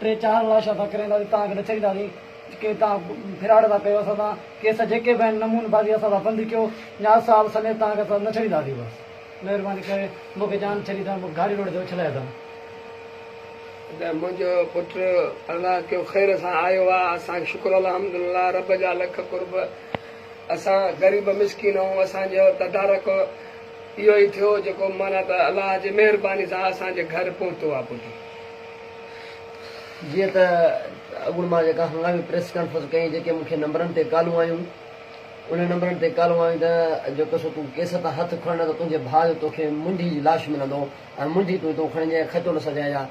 ٽي چار لاشون اسان ڪري اينداسين توهان کي نه ڇڏينداسين جيڪي توهان ڦراڊ ٿا ڪيو اسان سان ڪيس جيڪي به آهن نمون بازي اسان سان بند ڪيو نياز صاحب سميت توهان کي اسان نه ڇڏينداسين بس مهرباني ڪري مون کي جان ڇڏي اٿن مون کي گاڙي روڊ تي اڇلائي اٿن. ته منهنجو پٽ الله ڪيو خير سان آيو آ اسان کي شڪر الحمد لله رب جا لک قرب اسان غريب مسڪين آهون اسان جو تدارڪ اهو ئي ٿيو جيڪو معنيٰ ته الله جي مهرباني سان اسان جي گهر پهتو آ پٽ. جيئن ته اڳوڻي مان جيڪا هنگامي پريس ڪانفرنس ڪئي جيڪي مون کي نمبرن تي ڪالون آيون انهن نمبرن تي ڪالون آيون ته جيڪو سو تون ڪيس تان هٿ کڻ نه ته تنهنجي ڀاء جو توکي منڍي جي لاش ملندو ۽ منڍي تون هتو کڻجانء کچو نه سجهائجان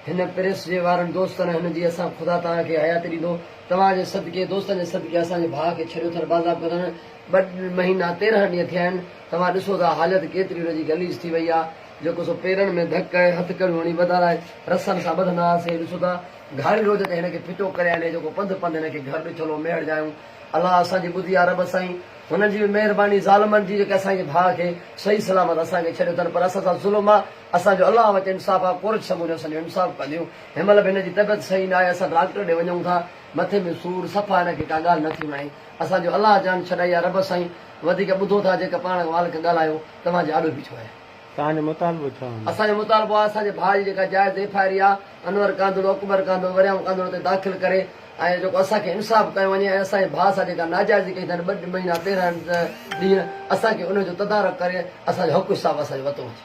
هن پريس جي وارن دوستن هن جي اسان خدا توهان کي حياتي ڏيندو توهان جي صدقي دوستن جي صدقي اسان جي ڀاء کي ڇڏيو ٿن بازاب ڪيو ٿن ٻه مهينا تيرهن ڏينهن ٿيا آهن توهان ڏسو ٿا حالت ڪيتري ان جي غليظ ٿي وئي آهي جيڪو سو پيرن ۾ ڌڪ ۽ هٿڪڙيون هڻي وڌارائي رسن سان ٻڌندا هئاسين. ڏسو ته گهاري روڄ تي هن کي ڦٽو ڪري آني جيڪو پنڌ پنڌ هن کي گهر ڏٺلو ميهڙ جايون. الله اسان جي ٻڌي آ رب سائين هنن جي به مهرباني ظالمن جي جيڪي اسان جي ڀاء کي صحيح سلامت اسان کي ڇڏيو اٿن پر اسان سان ظلم آ اسان جو الله وٽ انصاف آ ڪورچ سموريون اسان جو انصاف ڪنديون هن مهل به هن جي طبعيت صحيح ناهي اسان ڊاڪٽر ڏي وڃون ٿا مٿي ۾ سور صفا هن کي ڪا ڳالهه نٿي وڻي اسان جو الله جان ڇڏائي آ رب سائين وڌيڪ ٻڌو ٿا جيڪا پاڻ مالڪ ڳالهايو. توهان جي آڏو بيٺو آهيان. توهان جو مطالبو ڇا هوندو؟ اسان جو مطالبو آهي اسان جي ڀاء جي جيڪا جائز ايف آء آر اها انور ڪانڌڙو، اڪبر ڪانڌڙو، وريام ڪانڌڙو تي داخل ڪري ۽ جيڪو اسان کي انصاف ڪيو وڃي ۽ اسان جي ڀاء سان جيڪا ناجائزي ڪئي اٿن ٻه مهينا تيرهن ڏينهن اسان کي ان جو تدارڪ ڪري اسان جو حق حساب اسان جو وتو وٺي.